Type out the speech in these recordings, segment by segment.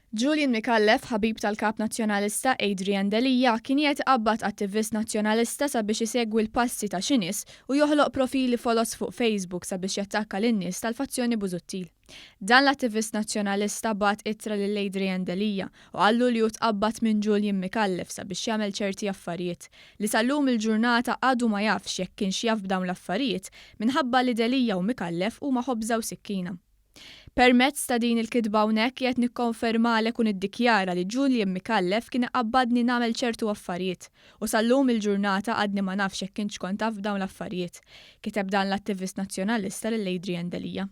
Julian Micallef, ħabib tal-Kap Nazzjonalista Adrian Delia, kien jgħid qabbat attivist Nazzjonalista sabiex isegwi l-passi ta' xi nies u joħloq profili foloz fuq Facebook sabiex jattakka lin-nies tal-fazzjoni Busuttil. Dan l-attivist Nazzjonalista bagħat ittra lil Adrian Delia u qallu li hu tqabbad minn Julian Micallef sabiex jagħmel ċerti affarijiet, li sa llum il-ġurnata għadu ma jafx jekk kienx jaf b'dawn l-affarijiet minħabba li Delia u Micallef huma ħobża u sikkina. Permezz ta' din il-kitba hawnhekk qiegħed nikkonfermalek u niddikjara li Julian Micallef kien iqabbadni nagħmel ċertu affarijiet u sa llum il-ġurnata għadni ma nafx jekk intx kont taf b'dawn l-affarijiet, kiteb dan l-attivist Nazzjonalista lil Adrian Delia.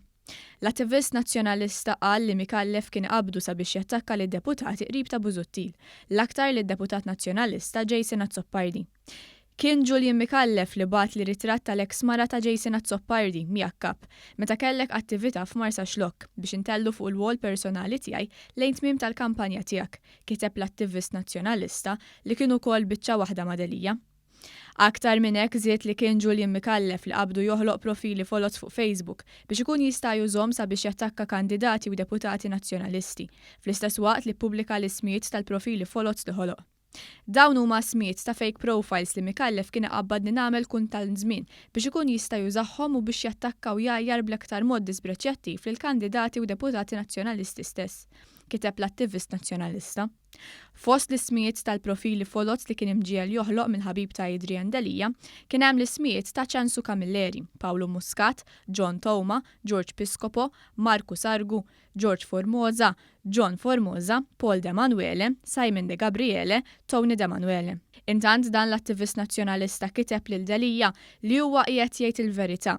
L-attivist Nazzjonalista qal li Micallef kien qabdu sabiex jattakka lid-deputati qrib ta' Busuttil, l-aktar lid-deputat Nazzjonalista Jason Azzopardi. Kien Julian Micallef li bagħatli ritratt tal-eks mara ta' Jason Azzopardi, mjakkab, meta kellek attivita' f'Marsaxlokk, biex intellhu fuq il-wall personali tiegħi lejn tmiem tal-kampanja tiegħek, kiteb l-attivist Nazzjonalista li kien ukoll biċċa waħda ma' Delia. Aktar minn hekk żied li kien Julian Micallef li qabdu joħloq profili foloz fuq Facebook biex ikun jista' jużhom sabiex jattakka kandidati u deputati Nazzjonalisti, fl-istess waqt li ppubblika l-ismijiet tal-profili foloz li ħoloq. Dawn huma ismijiet ta' fake profiles li Micallef kien iqabbadni nagħmel kull tant żmien biex ikun jista' jużahhom u biex jattakka u jgħajjar bl-aktar mod disprezzjattiv lill-kandidati u deputati Nazzjonalisti stess, kiteb l-attivist Nazzjonalista. Fost l-ismijiet tal-profili foloz li kien imġiegħel joħloq mill-ħabib ta' Adrian Delia kien hemm l-ismijiet ta' Ċensu Camilleri, Pawlu Muscat, John Touma, George Piscopo, Marku Sargu, George Formosa, John Formosa, Paul De Manuele, Simon De Gabriele, Tony De Manuele. Intant dan l-attivist Nazzjonalista kiteb lil Delia li huwa qiegħed jgħid il-verità.